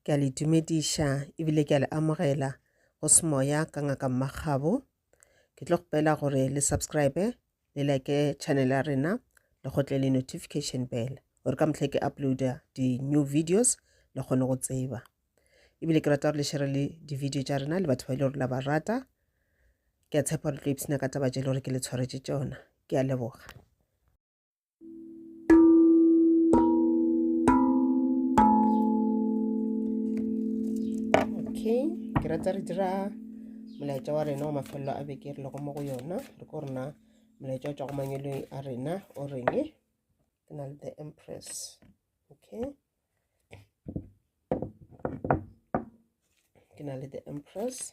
Ke a le dumediša ebile ke a le amogela go semoya ka ngaka mmagabo ke tlo kgopela gore le subscribe le like channel ya rena le gotle le notification bell gore ka mohlhe ke uploada di-new videos le kgone go tseba ebile ke rata gore le shere le di-video tša rena le batho ba e le gore la ba rata ke a tshepa gore tlo ipsena ka taba tše e le gore ke le tshwaretše tšona ke a leboga okay ke rata re dira molaetša wa rena wa mafelelo a beke re lego mo go yona re ko rena molaetša o tšwa go mangwelong a rena o reng ke na le the empress okay ke na le the empress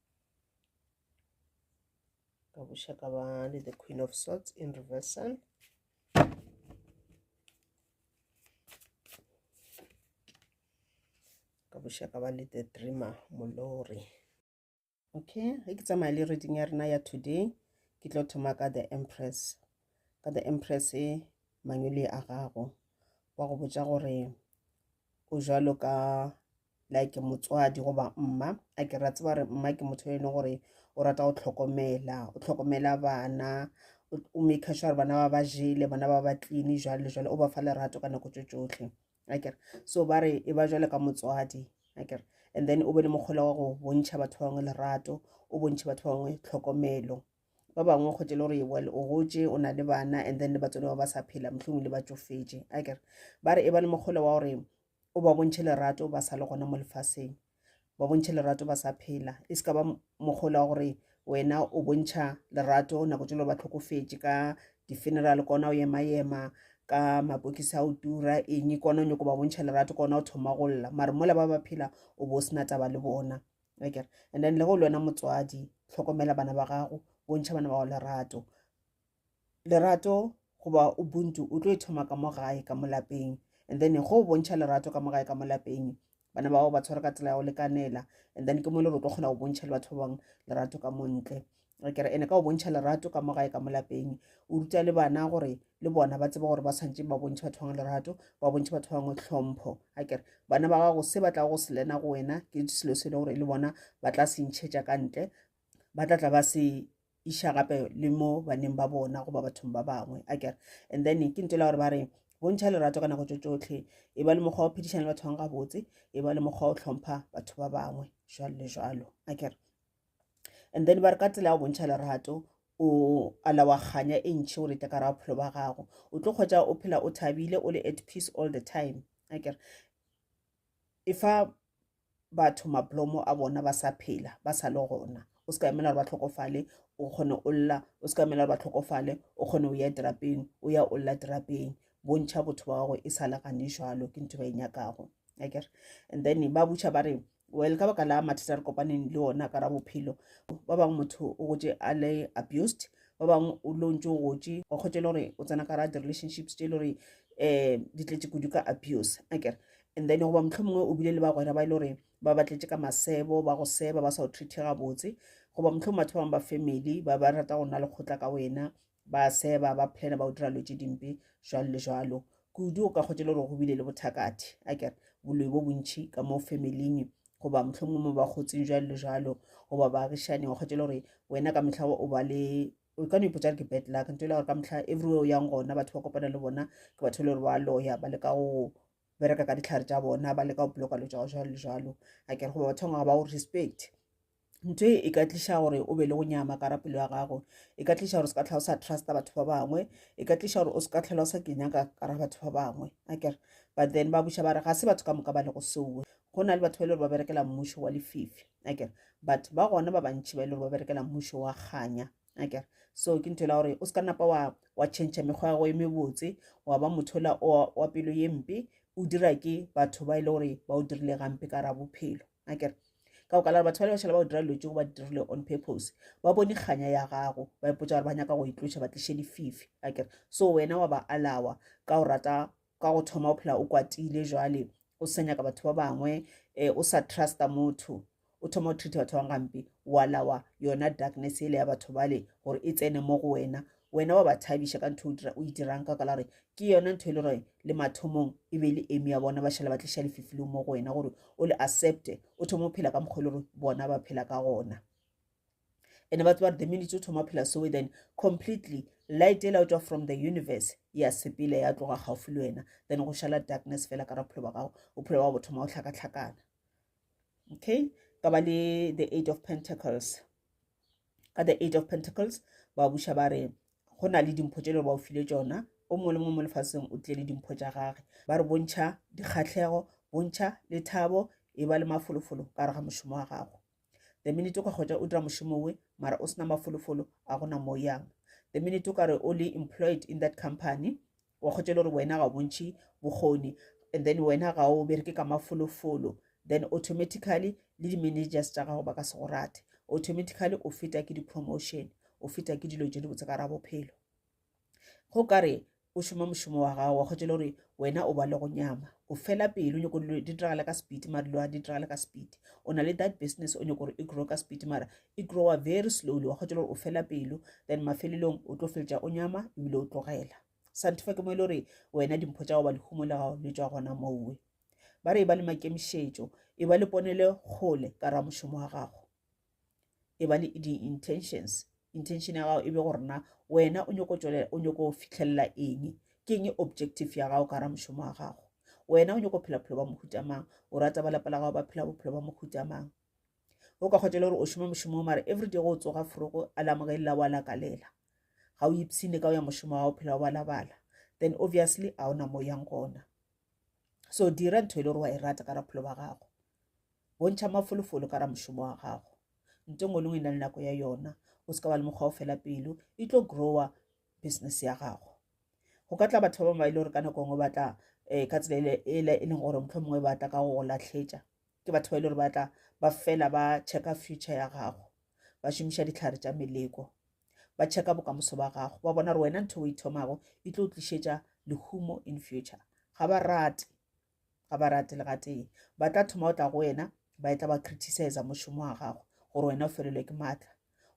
ka buša ka ba le the queen of swords in reversal ka buša ka ba le the dreamer molori okay ge ke tsamaya le reading ya rena ya today ke tlo thoma ka the empress ka the empress e mangwele a gago wa go botša gore o jalo ka like motswadi goba mma a ke ra tseba gore mma ke motho e leng gore o rata go tlhokomela o tlhokomela bana o make sure bana ba ba jele bana ba ba clean jwale le jwale o ba fa lerato ka nako tso tsotlhe akere so ba re e ba jwale ka motswadi akere and then o be le mokgola wa go bontšha batho ba bangwe lerato o bontšhe batho ba bangwe tlhokomelo ba bangwe go tse le gore well o gotse o na le bana and then le batswadi ba ba sa phela mohlomong le ba tsofetse akere ba re e ba le mokgola wa gore o ba bontšhe lerato ba sa le gona mo lefaseng ba bontšhe lerato ba sa phela e se ka ba mokgolo wa gore wena o bontšha lerato nako jalo ba tlhokofetše ka di-funeral kona o yema yema ka mapokisi a o tura eng kona o nyako ba bontšha lerato kona o thoma go lla mare mola ba ba phela o bo o sena taba le bona akere and then le go le wena motswadi tlhokomela bana ba gago bontšha bana ba go lerato lerato goba ubuntu o tlo e thoma ka mo gae ka mo lapeng and then go bontšha lerato ka mo gae ka mo lapeng bana bao ba tshware ka tsela ya go lekanela and then ke mo le re tlo kgona go bontšha le batho ba bangwe lerato ka montle re kere ene ka go bontšha lerato ka mo gae ka mo lapeng o ruta le bana gore le bona ba tseba gore ba tshwanetse ba bontšhe batho bangwe lerato ba bontšhe batho bangwe tlhompho a kere bana ba gago se ba tla go selena go wena ke selo se e le gore le bona ba tla se ntšhetša ka ntle ba tla tla ba se iša gape le mo baneng ba bona goba bathong ba bangwe a kere and then ke ntela gore ba re bontšha lerato ka nako tso tsotlhe e ba le mokgwa o phedišana le batho bangwe gabotse e ba le mokgwa o tlhompha batho ba bangwe jalo le jalo a kere and then ba re ka tsela ya go bontšha lerato o alawa kganya e ntšhi gore e tekara bophelo ba gago o tlo kgwetsa o phela o thabile o le at peace all the time a kere e fa batho maplomo a bona ba sa phela ba sa le gona o se ka emela gore ba tlhokofale o kgone o lla o se ka emela gore ba tlhokofale o kgone o ya terapeng o ya o lla terapeng bontšha botho ba gago e sa le gane jalo ke ntho ba e nyakago akere and then ba butšha ba re well ka baka la mathata re kopaneng le ona ka ra bophelo ba bangwe motho o gotse a le abused ba bangwe o lo ntse o gotse wa kgotse le gore o tsena ka ra di-relationships tse e le gore um di tletse kudu ka abuse akere And then goba mohlomongwe o bile le bagwera ba e le gore ba batletše ka masebo ba go seba ba sa o treat gabotse goba mohlomongwe batho ba bangwe ba family ba ba rata go nna lekgotla ka wena ba seba ba plana ba o dira lo tše dimpe jalo le jalo kudu o ka kgotse le gore go bile le bothakathi a kere boloi bo bontšhi ka mo familing goba mohlomongwe mo ba kgotseng jalo le jalo goba baagišaneng o kgotse le gore wena ka mehla o ba le o ka no ipotsa re ke bad luck nto e le gore ka motlha everywhere o yang gona batho ba kopana le bona ke batho e le gore ba loya ba leka go bereka ka ditlhare tša bona ba leka go bloka lo tša go jalo le jalo a kere goba bathong ga ba go respect ntho e e ka tliša gore o be le go nyama ka rapelo ya gago e ka tliša gore o se ka tlhola o sa trusta batho ba bangwe e ka tliša gore o se ka tlhola o sa kenya ka ra batho ba bangwe a kere but then ba buša ba re ga se batho ka moka ba le go seowe go na le batho ba e le gore ba berekela mmušo wa lefifi akere but ba gona ba bantšhi ba e le gore ba berekela mmušo wa kganya akere so ke ntho e la gore o se ka napa wa wa change mekgwa ya go e mebotse wa ba motho la wa pelo ye mpe o dira ke batho ba e le gore ba o dirile gampe ka ra bophelo akere ka okala batho ba le bašhala ba go dira dilo tse go ba dirile on purpose ba bone kganya ya gago ba ipotsa gore ba nyaka go itloša ba tliše dififi akere so wena wa ba alawa ka go rata ka go thoma o phela o kwatile jwale o sa nyaka batho ba bangwe um o sa trusta motho o thoma o treata batho ba bangwe gampe wa lawa yona darkness ele ya batho bale gore e tsene mo go wena wena wa ba thabiša ka ntho o e dirang ka kala gore ke yona ntho e le gore le mathomong e be le eme ya bona ba šhala ba tliša lefifileng mo go wena gore o le accepte o thoma o phela ka mokgwa e le gore bona ba phela ka gona ene ba tsebare the minutes o thoma phela soe then completely light e laotswa from the universe ya sepele ya tloga gaufi le wena then go šala darkness fela ka ra bophelo ba gago bophelo ba bo thoma go tlhakatlhakana okay ka ba le the eight of pentacles ka the eight of pentacles ba buša ba re go na le dimpho tše le ba o file tsona o mongwe le mongwe mo lefaseng o tlile le dimpho tša gage ba re bontšha dikgatlhego bontšha lethabo e ba le mafolofolo ka re ga mošomo wa gago the minute o ka kgwetša o dira mošomo we mara o sena mafolofolo a gona mo yang the minute o ka re o le employed in that company wa kgwetša e le gore wena ga o bontšhe bokgoni and then wena ga o bereke ka mafolofolo then automatically le di-managers tša gago ba ka se go rate automatically o feta ke di-promotion o feta ke dilo tše di botse ka ra bophelo go ka re o šoma mošomo wa gago wa kgwetšele gore wena o ba le go nyama o fela pelo nyoko dilo di diragale ka speed mara dilo di diragale ka speed o na le that business o nyoko gore e grow ka speed mara e growa very slowly wa kgwetšele gore o fela pelo then mafelelong o tlo feletša o nyama ebile o tlogela santhofa ke mo e le gore wena dimpho tša go ba lehumo le gago le tswa gona mowe ba re e ba le makemišetšo e ba le ponele kgole ka ra mošomo wa gago e ba le di-intentions intention ya gago e be go rena wena o nyoko tswelela o nyoko fitlhelela eng ke eng objective ya gago ka ra mošomo wa gago wena o nyoko phela bophelo ba mohuta mang o rata ba lapa la gago ba phela bophelo ba mohuta mang o ka kgotela gore o šoma mošomo mare every day go o tsoga forogo a lamogelela wa lakalela ga o ipshine ka o ya mošomo wa o phela o balabala then obviously a ona mo yang gona so dira ntho e le gore wa e rata ka ra bophelo ba gago bontšha mafolofolo ka ra mošomo wa gago nto ngwe le ngwe e na le nako ya yona o se ka wa le mokgwa o fela pelo e tlo grower business ya gago go ka tla batho ba bangwe ba e le gore ka nako ngwe ba tla um ka tsela e, e leng gore motlho mongwe ba tla ka go go latlhetša ke batho ba e le gore ba tla ba fela ba checka future ya gago ba šomiša ditlhare tša meleko ba checka bokamoso ba gago ba bona gore wena ntho o ithomago e tlo tlišetša lehumo in future ga ba rate ga ba rate le gatee ba tla thoma go tla go wena ba etla ba criticize mošomo wa gago gore wena o felelwe ke maatla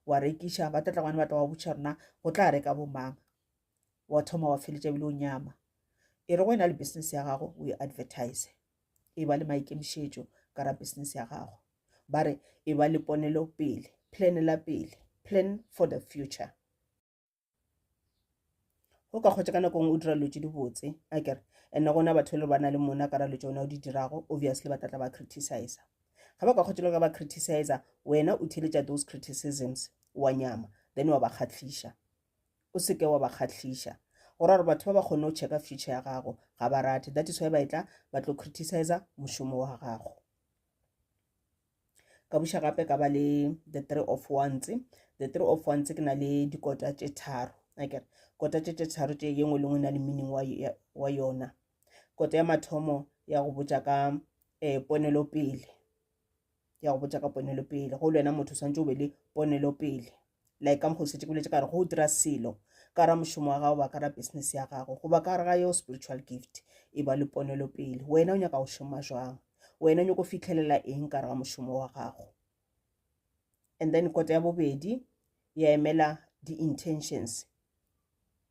wa rekiša ba tlatla gone ba tla wa botšha rona go tla reka bomang wa thoma wa feletša bile o nyama e re go wena le business ya gago o e advertise e ba le maikemišetšo ka ra business ya gago ba re e ba le ponelo pele plan la pele plan for the future o ka kgotse ka nako ngwe o dira dilo tse di botse a kere and-e gona batho e le ba na le mona ka ralo tsone o di dirago obviously ba tlatla ba criticize ga ba ka kgotse le ka ba criticize wena o theletša those criticisms wa nyama then wa ba kgatlhiša o seke wa ba kgatlhiša gore gore batho ba ba kgone go checka future ya gago ga ba rate that is why ba e tla ba tlo criticize mošomo wa gago ka buša gape ka ba le the three of ones the three of ones ke na le dikota tše tharo akere kota tše tše tharo tše ye nngwe le nngwe e na le meaning wa yona kota ya mathomo ya go botša ka um eh, ponelopele ya go botša ka ponelopele go le wena motho o swantse o be le ponelopele like ka mokgotsi ke boletse ka re go dira selo ka ra mošomo wa gago ba ka ra business ya gago goba ka gare ga yeo spiritual gift e ba le ponelo pele wena o nyaka go šoma jwang wena o nyako fitlhelela eng ka re ga mošomo wa gago and then kota ya bobedi ya emela di-intentions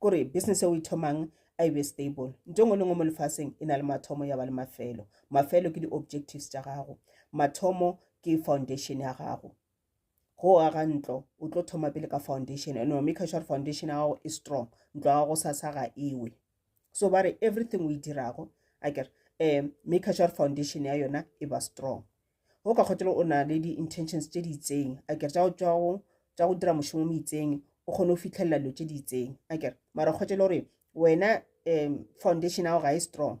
kore business e o e thomang a e be stable nto ngwe le ngwe mo lefaseng e na le mathomo ya ba le mafelo mafelo ke di-objectives tša gago mathomo ke foundation ya gago go aga ntlo o tlo thoma pele ka foundation and wa make sure foundation ya gago e strong ntlo ya gago sa sa ga ewe so ba re everything o e dirago a kere um make sure foundation ya yona e ba strong o ka kgotelo o na le di-intentions tše di itseng a kere tša go dira mošomo mo itseng o kgone go fitlhelela dilo tše di itseng a kere mara o kgotelo gore wena um foundation ao ga e strong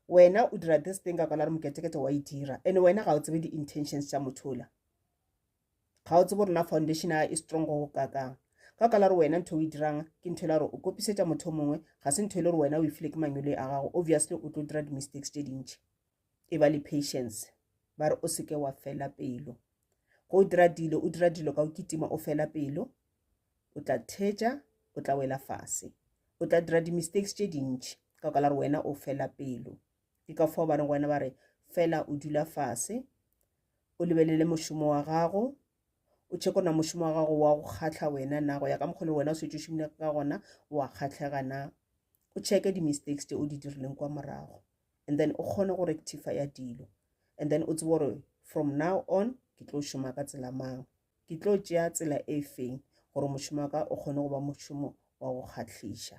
wena o dira this thing ka kwana re moketekete wa e dira and wena ga o tsebe di-intentions tša mothola ga o tsebo rona foundation a e strong go kakang ka kala re wena ntho o e dirang ke ntho e la gore o kopisetša motho o mongwe ga se ntho e le gore wena o e file ke mangwele a gago obviously o tlo dira di-mistakes tše dintšhi e ba le patience ba re o seke wa fela pelo go o dira dilo o dira dilo ka o kitima o fela pelo o tla theja o tla wela fase o tla dira di-mistakes tše dintši ka ka la re wena o fela pelo ke ka fao ba reng wena ba re fela o dula fase o lebelele mošomo wa gago o tšheko na mošomo wa gago wa go kgatlha wena na go ya ka mokgolo wena o setse o šomile ka gona wa kgatlhega na o tšheke di-mistakes tse o di dirileng kwa morago and then o kgone go rectifya dilo and then o tsebe gore from now on ke tlo šoma ka tsela mang ke tlo tšea tsela e feng gore mošomo wa ka o kgone go ba mošomo wa go kgatlhiša